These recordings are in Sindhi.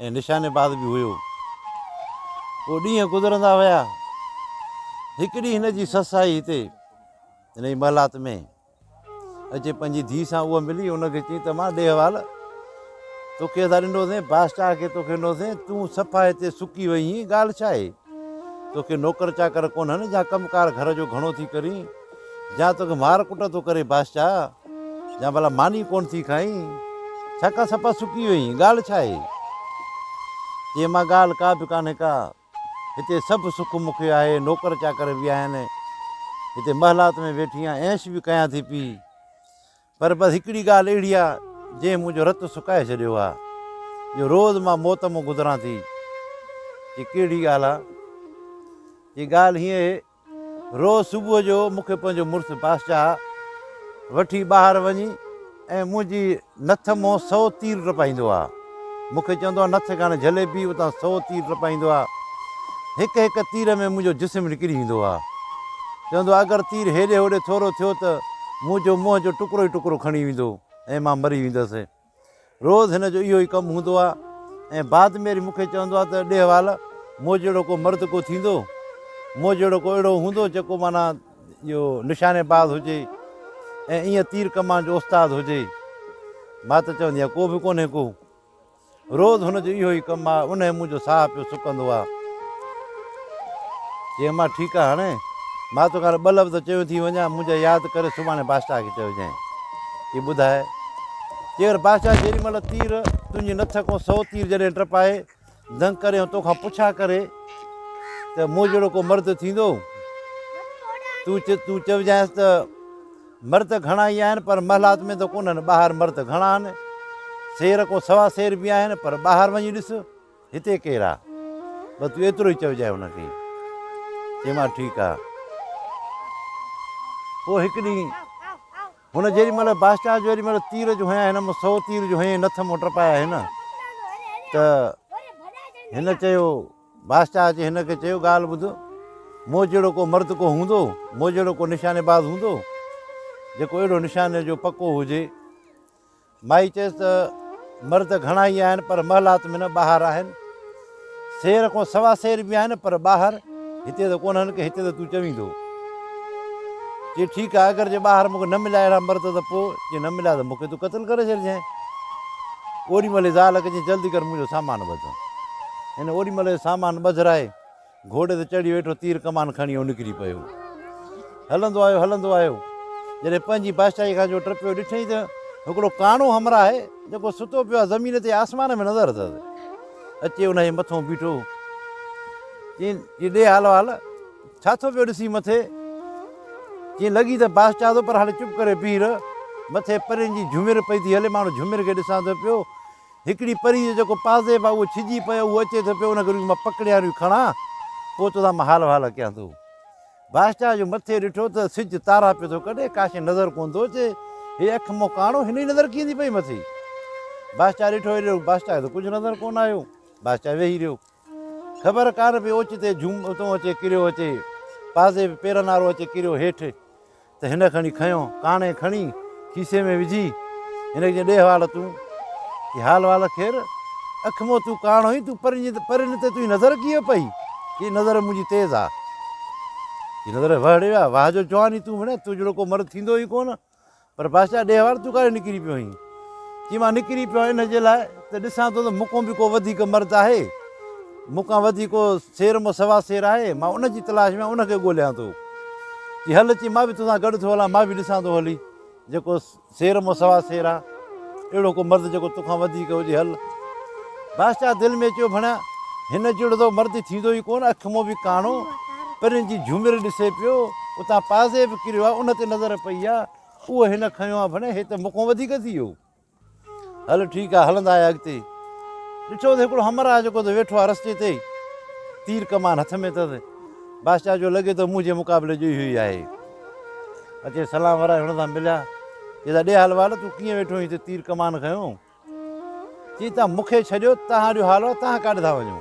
۽ نشانيباز به هيو. پوء ڏينهن گذرندا ويا. هڪ ڏينهن هن جي سس آئي هتي هن جي محلات ۾ اچي پنهنجي ڌيء سان اها ملي ان کي چي ته مان ڏي حوال توکي اسان ڏنو سين بادشاهه کي توکي ڏنو سين تون صفا هتي سڪي وئين ڳالهه ڇا آهي توکي نوڪر چاڪر ڪونهن جا ڪم ڪار گهر جو گهڻو ٿي ڪرين جا توکي مار ڪٽ ٿو ڪري بادشاهه، جا ڀلا ماني ڪونه ٿي کائين، ڇاڪاڻ سپا سڪي وئين، ڳالهه ڇا آهي؟ چيائين ماء ڳالهه ڪا به ڪانهي ڪا، هتي سڀ سک مون کي آهي، نوڪر چاڪر به آهن، هتي محلات ۾ ويٺي آهيان، عيش به ڪيان ٿي پيئي، پر بس هڪڙي ڳالهه اهڙي آهي، جنهن منهنجو رت سڪائي ڇڏيو آهي، جو روز مان موت مون گذران ٿي. چي ڪهڙي ڳالهه آهي؟ چي ڳالهه هيئن اهي. روز صبح جو مون کي پنهنجو مڙس بادشاهه وٺي ٻاهر وڃي ۽ منهنجي نٿ مون سو تير ٽپائيندو آ. مون کي چوندو آ نٿ ڪانه جهلي بيهه اتان سو تير ٽپائيندو آ. هڪ هڪ تير ۾ منهنجو جسم نڪري ويندو آ. چوندو آ اگر تير هيڏي هوڏي ٿورو ٿيو ته منهنجو منهن جو ٽڪرو ئي ٽڪرو کڻي ويندو ۽ مان مري ويندس. روز هن جو اهو ئي ڪم هوندو آ ۽ بعد ميري مون کي چوندو آ ته ڏيهوال مون جهڙو ڪو مرد ڪو ٿيندو، مون جهڙو ڪو اهڙو هوندو جيڪو معنيٰ اهو نشاني باز هجي ۽ ايئن تير ڪمان جو استاد هجي؟ مان ته چوندي آهيان ڪو به ڪونهي ڪو. روز هن جو اهو ئي ڪم آ، انهي منهنجو ساهه پيو سڪندو آ. چيم مان ٺيڪ آ هاڻي مان توکي هاڻي ٻه لفظ چيو ٿي وڃان منهنجا ياد ڪري سڀاڻي بادشاهه کي چئجانء ته ٻڌاء چير بادشاهه جيڏي مهل تير تنهنجي نٿ کون سو تير جڏهن ٽپائي دنگ ڪري ۽ توکان پڇا ڪري ته مون جهڙو ڪو مرد ٿيندو تون چ تون چئجانس ته مرد گهڻا ئي آهن پر محلات ۾ ته ڪونهن ٻاهر مرد گهڻا آهن سير ڪو سوا سير به آهن پر ٻاهر وڃي ڏس هتي ڪير آ؟ بس تون ايترو ئي چئجانء هن کي. چيومانس ٺيڪ آ. پوء هڪ ڏينهن هن جيڏي مهل بادشاهه جو ايڏي مهل تير جو هنيائين هن مون سو تير جو هنيائين نٿ مون ٽپايا هن ته هن چيو بادشاهه اچي هن کي چيو ڳالهه ٻڌ مون جهڙو ڪو مرد ڪو هوندو مون جهڙو ڪو نشاني باز هوندو جيڪو اهڙو نشاني جو پڪو هجي مائي چيس ته مرد گهڻا ئي آهن پر محلات ۾ نه ٻاهر آهن. سير کان سوا سير به آهن پر ٻاهر هتي ته ڪونهن ڪي هتي ته تون چويندو. چي ٺيڪ آهي اگر جي ٻاهر مونکي نه مليا اهڙا مرد ته پو جي نه مليا ته مونکي تون قتل ڪري ڇڏجين. اوڏي مهل زال ڪجين جلدي ڪر منهنجو سامان ٻڌ. هن اوڏي مهل جو سامان ٻڌرائي گهوڙي تي چڙهي ويٺو تير ڪمان کڻي هو نڪري پيو هلندو آيو هلندو آيو جڏهن پنهنجي بادشاهي کان جو ٽپيو ڏٺئي ته هڪڙو ڪاڻو همراهه آهي جيڪو ستو پيو آهي زمين تي آسمان ۾ نظر اٿس اچي ان جي مٿو بيٺو چين جي ڏي حال وال ڇا ٿو پيو ڏسي مٿي چين لڳي ته بادشاهه ٿو پر هاڻي چپ ڪري بيهه رهه مٿي پرين جي جهمر پئي ٿي هلي ماڻهو جهمر کي ڏسان ٿو پيو هڪڙي پري جو جيڪو پازيب آ اهو ڇڄي پيو اهو اچي ٿو پيو ان کي روئي مان پڪڙيان روئي کڻان پوء تو سان مان حال وحال ڪيان ٿو. بادشاهه جو مٿي ڏٺو ته سج تارا پيو ٿو ڪڍي ڪا شيء نظر ڪونه ٿو اچي هي اک منهن ڪاڻو هن جي نظر ڪيئن ٿي پئي مٿي بادشاهه ڏٺو هيڏي بادشاهه کي ته ڪجهه نظر ڪونه آيو بادشاهه ويهي رهيو. خبر ڪانه پئي اوچتي جھوم اتون اچي ڪريو اچي پازي به پيرن وارو اچي ڪريو هيٺ ته هن کڻي کنيو ڪاڻي کڻي کيسي ۾ وجھي هن کي ڏي حوال تون ڪي حال وال خير اک مون تون ڪاڻ هئي تون پرين پرين تي تنهنجي نظر ڪيئن پئي هي نظر منهنجي تيز آ هي نظر وهڙي ويا واهه جو جواني تون وڻي تو جهڙو ڪو مرد ٿيندو ئي ڪونه پر بادشاهه ڏيهوار تون ڪاڏي نڪري پيو آهين؟ چي مان نڪري پيو آهيان ان جي لاء ته ڏسان ٿو ته مون کان به ڪو وڌيڪ مرد آهي، مون کان وڌيڪ ڪو سير مون سوا سير آهي، مان ان جي تلاش ۾ ان کي ڳوليان ٿو. چي هل چي مان به توسان گڏ ٿو هلان، مان به ڏسان ٿو هلي جيڪو سير مون سوا سير آهي. اهڙو ڪو مرد جيڪو توکان وڌيڪ هجي، هل. بادشاهه دل ۾ چيو، ڀڻيا هن جهڙو ته مرد ٿيندو ئي ڪونه، اک مون به ڪاڻو، پرين جي جهومر ڏسي پيو، اتان پازي به ڪريو آهي، ان تي نظر پئي آهي، اهو هن کنيو آهي، ڀڻيا هي ته مون کان وڌيڪ ٿي ويو. هل ٺيڪ آهي، هلندا آهيان اڳتي. ڏٺو ته هڪڙو همراهه جيڪو ته ويٺو آهي رستي تي، تير ڪمان هٿ ۾ اٿس، بادشاهه جو لڳي ٿو منهنجي مقابلي جو ئي اهو ئي آهي. اچي سلام ورائي هن سان مليا. چئي ته ڏي حلوا نه تون ڪيئن ويٺو آهين هتي تير ڪمان کنيو. چئي ته مون کي ڇڏيو تهان ڏيو حلوا تهان ڪاڏي ٿا وڃو.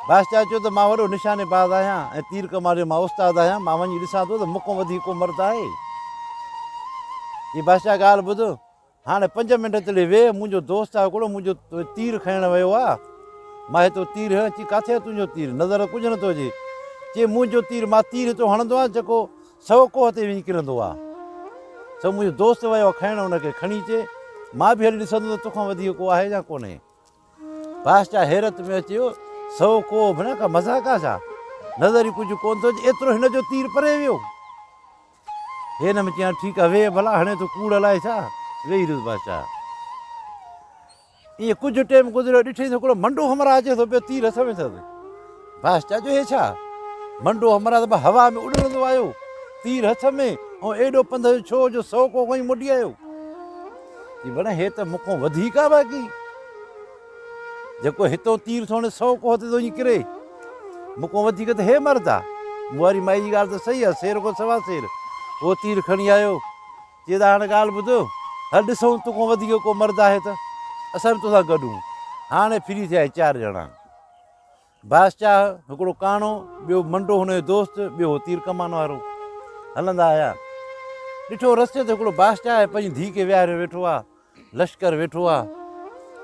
بادشاهه چيو ته مان وڏو نشاني باز آهيان ۽ تير ڪمان جو مان استاد آهيان مان وڃي ڏسان ٿو ته مون کان وڌيڪ ڪو مرد آهي. چئي بادشاهه ڳالهه ٻڌ. هاڻي پنج منٽ تڙي ويهه، منهنجو دوست آهي هڪڙو، منهنجو تير کڻڻ ويو آهي. مان هي تو تير هڻ چي ڪاٿي آهي تنهنجو تير، نظر ته ڪجهه نه ٿو اچي. چي منهنجو تير، مان تير هتو هڻندو آهيان جيڪو سو ڪوهه تي وڃي ڪرندو آهي. سو منهنجو دوست ويو آهي کڻڻ ان کي، کڻي چي مان به هلي ڏسندو ته توکان وڌيڪ ڪو آهي يا ڪونهي. بادشاهه حيرت ۾ اچي ويو، سو ڪوهه ڀيڻا ڪا مذاق آهي ڇا؟ نظر ئي ڪجهه ڪونه ٿو اچي، ايترو هن جو تير پري ويو. هن ۾ چيائين، ٺيڪ آهي، ويهه ڀلا، هڻي ٿو ڪوڙ الائي ڇا؟ ويهي رهيس بادشاهه. ائين ڪجهه ٽيم گذريو، ڏٺيس هڪڙو منڊو همراهه اچي ٿو پيو، تير هٿ ۾ اٿس. بادشاهه چيو، هي ڇا؟ منڊو همراهه ته به هوا ۾ اڏرندو آيو، تير هٿ ۾، ۽ ايڏو پنڌ جو ڇو جو سو ڪوهه کڻي موٽي آيو. چي، بڻ هي ته مون کان وڌيڪ آباڪي. جيڪو هتئون تير سوڻي سئو ڪوهه تي ٿو وڃي ڪري. مون کان وڌيڪ ته هي مرد آ. مون واري مائي جي ڳالهه ته صحيح آ، سير کان سوا سير. هو تير کڻي آيو. چي ته هاڻ ڳالهه ٻڌ. هل ڏسون تو کان وڌيڪ ڪو مرد آهي ته اسان به تو سان گڏ هون. هاڻي ڦري ٿيا هي چار ڄڻا. باس چاهه، هڪڙو ڪاڻو، ٻيو منڊو هن جو دوست، ٻيو هو تير ڪمان وارو. هلندا آيا. ڏٺو رستي تي هڪڙو باس چاهه پنهنجي ڌيء کي ويهاريو ويٺو آ. لشڪر ويٺو آ.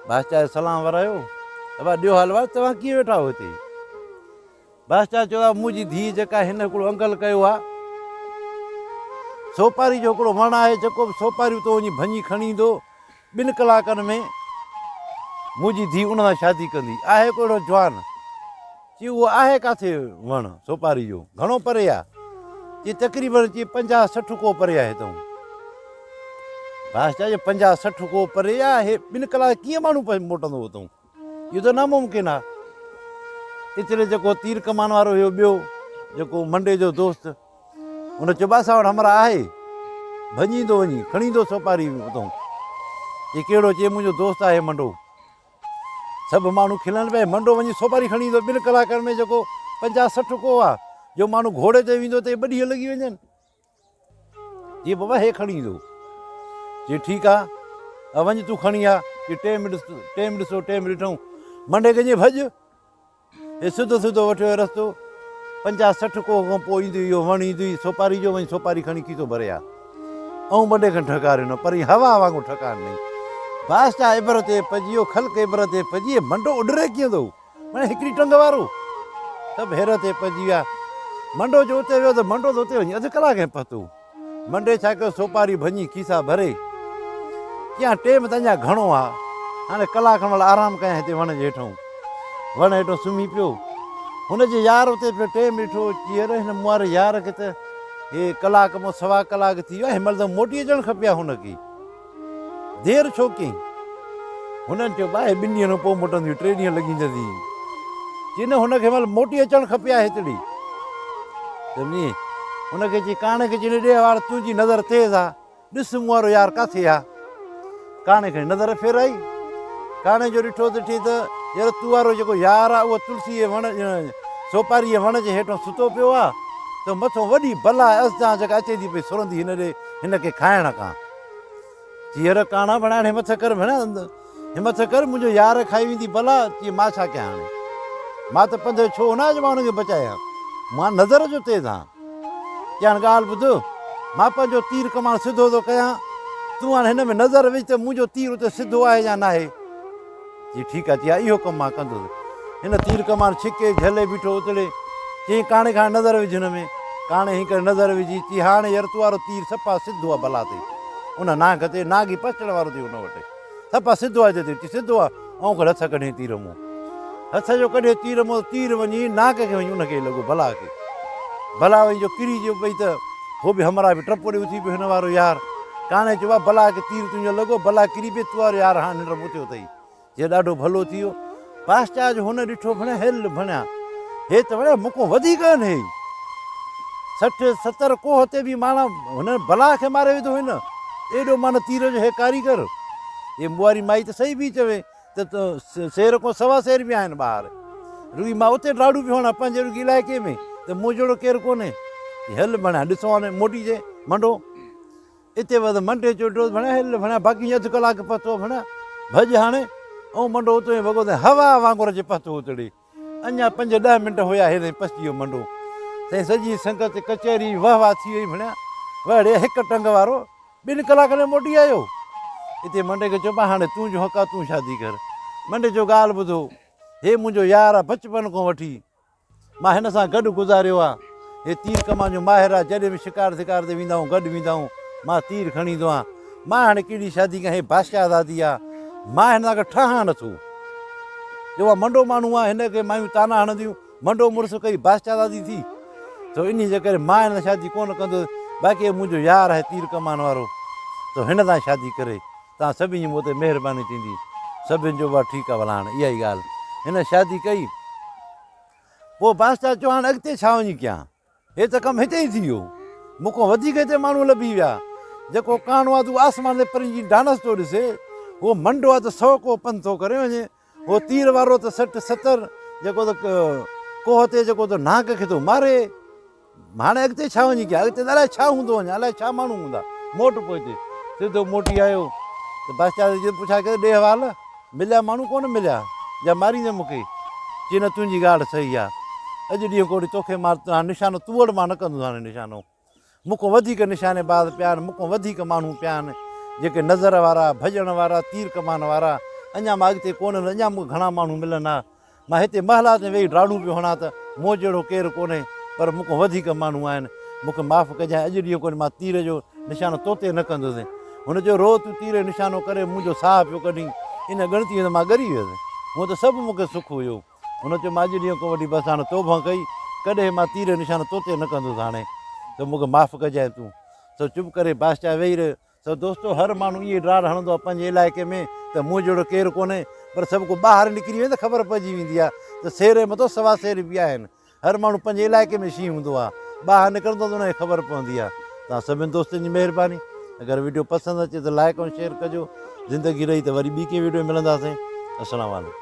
باس چاهه سلام ورايو. ابا ڏيو حال احوال، توهان ڪيئن ويٺا آهيو هتي؟ باس چاهه چيو آ منهنجي ڌيء جيڪا هن هڪڙو انگل ڪيو آ. سوپاري جو هڪڙو وڻ آهي، جيڪو به سوپاري اتو وڃي ڀڃي کڻي ايندو. ٻن ڪلاڪن ۾ منهنجي ڌيء ان سان شادي ڪندي. آهي ڪو اهڙو جوان؟ چي اهو آهي ڪاٿي وڻ سوپاري جو؟ گهڻو پري آ؟ چي تقريبن چي پنجاهه سٺ ڪوهه پري آهي هتئون. بادشاهه چيو پنجاهه سٺ ڪوهه پري آ، هي ٻن ڪلاڪن ڪيئن ماڻهو موٽندو هتئون؟ اهو ته ناممڪن آ. ايتري جيڪو تير ڪمان وارو هيو ٻيو جيڪو منڊي جو دوست ان چيو باسا وٽ همرا آهي ڀڄيندو وڃي کڻيندو سوپاري اتون چي ڪهڙو چي منهنجو دوست آهي منڊو سڀ ماڻهو کلن پئي منڊو وڃي سوپاري کڻي ايندو ٻن ڪلاڪن ۾ جيڪو پنجاهه سٺ ڪوهه آ جو ماڻهو گهوڙي تي ويندو ته ٻه ڏينهن لڳي وڃن جي بابا هي کڻي ايندو. چي ٺيڪ آ ا وڃ تون کڻي آ. جي ٽي منٽ ٽي منٽ سو ٽيم ڏٺئون. منڍي ڪنجي ڀڄ. هي سڌو سڌو وٺيو هي رستو. پنجاهه سٺ ڪوهه کان پوء ايندو اهو وڻ ايندو ئي سوپاري جو وڃ سوپاري کڻي کيسو ڀري آ. ائون منڍي کي ڍڪار ڏنو پر هي هوا وانگر ٺڪاڻ ڏنئي. بادشاهه عبرت ۾ پئجي ويو خلق عبرت ۾ پئجي هي منڍو اڏري ڪيئن ٿو. مڙئي هڪڙي ٽنگ وارو سڀ هير تي پئجي ويا. منڊو جو اتي ويو ته منڊو ته اتي وڃي اڌ ڪلاڪ ۾ پهتو. منڊي ڇا ڪيو سوپاري ڀڃي کيسا ڀري چيائين ٽيم ته اڃا گهڻو آ هاڻي ڪلاڪ کن مڙ آرام ڪيائين هتي وڻ جي هيٺئون. وڻ هيٺئون سمهي پيو. هن جي يار اتي پيو ٽيم ڏٺو چي اڙي هن مون واري يار کي ته هي ڪلاڪ مون سوا ڪلاڪ ٿي ويو آ هي مهل ته موٽي اچڻ کپي ها هن کي. دير ڇو ڪيئي؟ هنن چيو، ٻاهي ٻن ڏينهن پوء موٽنديون، ٽي ڏينهن لڳي ويندي. چي نه، هن کي مال موٽي اچڻ کپي ها هتڙي. سمجهي؟ هن کي چي، ڪاڻي کي چي، ڙي وار تنهنجي نظر تيز ها، ڏس مون وارو يار ڪاٿي ها. ڪاڻي کڻي نظر ڦيرائي. ڪاڻي جو ڏٺو ته ٺي ته يار تو وارو جيڪو يار ها، اهو تلسيء جي وڻ، سوپاريء جي وڻ جي هيٺان ستو پيو ها، ته مٿو وڏي بلا ازدان جيڪا اچي ٿي پئي سرندي هن ڏي، هن کي کائڻ ڪا. جيئر ڪاڻا بڻائڻ همت ٿي ڪر ڀيڻا همت ٿي ڪر منهنجو يار کائي ويندي بلا چي مان ڇا ڪيان هاڻي مان ته پنڌ ڇو نه آيو جو مان هن کي بچايان ها مان نظر جو تيز هان چي هاڻي ڳالهه ٻڌ مان پنهنجو تير ڪمان سڌو ٿو ڪيان تون هاڻي هن ۾ نظر وجهه ته منهنجو تير اتي سڌو آهي يا ناهي جي ٺيڪ آهي، چيائين اهو ڪم مان ڪندس. هن تير ڪمان ڇڪي، جهلي بيٺو اتڙي، چيائين ڪاڻي کان نظر وجهه هن ۾. ڪاڻي هنئين ڪري نظر وجهي، چيائين هاڻي ير تو وارو تير صفا سڌو آهي بلا تي ان نانگ تي، نانگ هي پسچڻ وارو تير ان وٽ صفا سڌو آهي تي تير، چيائين سڌو آهي، آئون کڻي هٿ ڪڍين تير مون. هٿ جو ڪڍي تير مئو تير وڃي ناڪ کي وڃي ان کي لڳو بلا کي بلا وڃي جو ڪري جو پئي ته هو به همراهه به ٽپو ڏي اٿي پيو هن وارو يار ڪاڻي چيو آ بلا کي تير تنهنجو لڳو بلا ڪري پئي تو وارو يار هاڻ ننڊ مون تي اٿئي جي ڏاڍو ڀلو ٿي ويو پاسچا جو هن ڏٺو ڀڻيا هل ڀڻيا هي ته ڀڻيا مون کان وڌيڪ آهن هي سٺ ستر ڪوه تي به ماڻا هن بلا کي ماري وڌو هن ايڏو مان تير جو هي ڪاريگر هي مئو واري مائي ته صحيح پئي چوي ته سير کان سوا سير به آهن ٻاهر. رڳي مان اتي ڊاڙو پيو هڻان پنهنجي رڳي علائقي ۾ ته مون جهڙو ڪير ڪونهي. هل ڀڻيا ڏسون هاني موٽي اچي منڊو اتي وڌ منڊي چيو ڊوز ڀڻيا هل ڀڻيا باقي اڌ ڪلاڪ پهتو ڀڻيا ڀڄ هاڻي. او منڊو اتو ئي وڳو ته هوا وانگر اچي پهتو اتڙي. اڃا پنج ڏهه منٽ هيا هيڏهن پسجي ويو منڊو سائين سڄي سنگت ڪچهري وهه واه ٿي وئي ڀڻيا وهڙي هڪ ٽنگ وارو ٻن ڪلاڪن ۾ موٽي آيو اتي منڊي کي چئبو هاڻي تون جو حق آ تون شادي ڪر منڊي جو ڳالهه ٻڌو هي منهنجو يار آ بچپن کان وٺي مان هن سان گڏ گذاريو آ هي تير ڪمان جو ماهر آ، جڏهن به شڪار ڌڪار تي ويندا آهون گڏ ويندا آهون، مان تير کڻي ايندو آهيان. مان هاڻي ڪهڙي شادي ڪيان، هي بادشاهه زادي آ، مان هن سان گڏ ٺهان نه ٿو. جو اها منڊو ماڻهو آ، هن کي مايون طعنا هڻنديون، منڊو مڙس ڪئي بادشاهه زادي ٿي، سو انهيء جي ڪري مان هن سان شادي ڪونه ڪندس، باقي هي منهنجو يار آهي تير ڪمان وارو، سو هن سان شادي ڪري، توهان سڀني جي مون تي مهرباني ٿيندي. سڀني چيو، واهه ٺيڪ آ، ڀلا هاڻي اها ئي ڳالهه. هن شادي ڪئي. پوء بادشاهه چيو، هاڻ اڳتي ڇا وڃي ڪيان؟ هي ته ڪم هتي ئي ٿي ويو. مون کان وڌيڪ هتي ماڻهو لڀي ويا. جيڪو ڪاڻو آدو آسمان تي پرين جي ڊانس ٿو ڏسي، هو منڊو آ ته سؤ ڪوهه پنڌ ٿو ڪري وڃي. هو تير وارو ته سٺ ستر، جيڪو ته ڪوهه تي جيڪو ته نانگ کي ٿو ماري. هاڻي اڳتي ڇا وڃي ڪيان؟ اڳتي ته الائي ڇا هوندو وڃان، الائي ڇا ماڻهو هوندا. موٽ پوء هتي. سڌو موٽي آيو ته باسچاز جيئن پڇا ڪيو، ڏي حوال، مليا ماڻهو ڪونه مليا؟ جا ماريندين مون کي؟ چي نه تنهنجي ڳالهه صحيح آ. اڄ ڏينهن ڪوڙي توکي مار ته هاڻي نشانو تون وڙ مان نه ڪندس هاڻي نشانو. مون کان وڌيڪ نشاني باز پيا آهن، مون کان وڌيڪ ماڻهو پيا آهن، جيڪي نظر وارا، ڀڄڻ وارا، تير ڪمان وارا. اڃا مان اڳتي ڪونه ويس، اڃا مون کي گهڻا ماڻهو ملن ها. مان هتي محلات ۾ ويهي ڊاڙون پيو هڻان ته مون جهڙو ڪير ڪونهي، پر مون کان وڌيڪ ماڻهو آهن. مون کي معاف ڪجانء، اڄ ڏينهن کان مان تير جو نشانو تو تي نه ڪندس. هن چيو، روز تون تير جو نشانو ڪري منهنجو ساهه پيو ڪڍين. ان ڳڻتيء ۾ مان ڳري ويس. هونء ته سڀ مون کي سک هيو. هن چيو، مان اڄ ڏينهن کان وٺي بس هاڻي توبهه ڪئي. ڪڏهن مان تير جو نشانو تو تي نه ڪندس. هاڻي ته مون کي معاف ڪجانء. تون سو چپ ڪري بادشاهه ويهي رهيو. سو دوستو هر ماڻهو ائين ڊاڙ هڻندو آهي پنهنجي علائقي ۾ ته مون جهڙو ڪير ڪونهي پر سڀ ڪو ٻاهر نڪري وڃي ته خبر پئجي ويندي آهي ته سير جي مٿو سوا سير به آهن هر ماڻهو پنهنجي علائقي ۾ شينهن هوندو آهي ٻاهر نڪرندو ته ان کي خبر پوندي آهي توهان سڀني دوستن جي مهرباني اگر ويڊيو پسند اچي ته لائڪ ۽ شيئر ڪجو زندگي رهي ته وري ٻي ڪنهن ويڊيو ۾ ملنداسين السلام عليڪم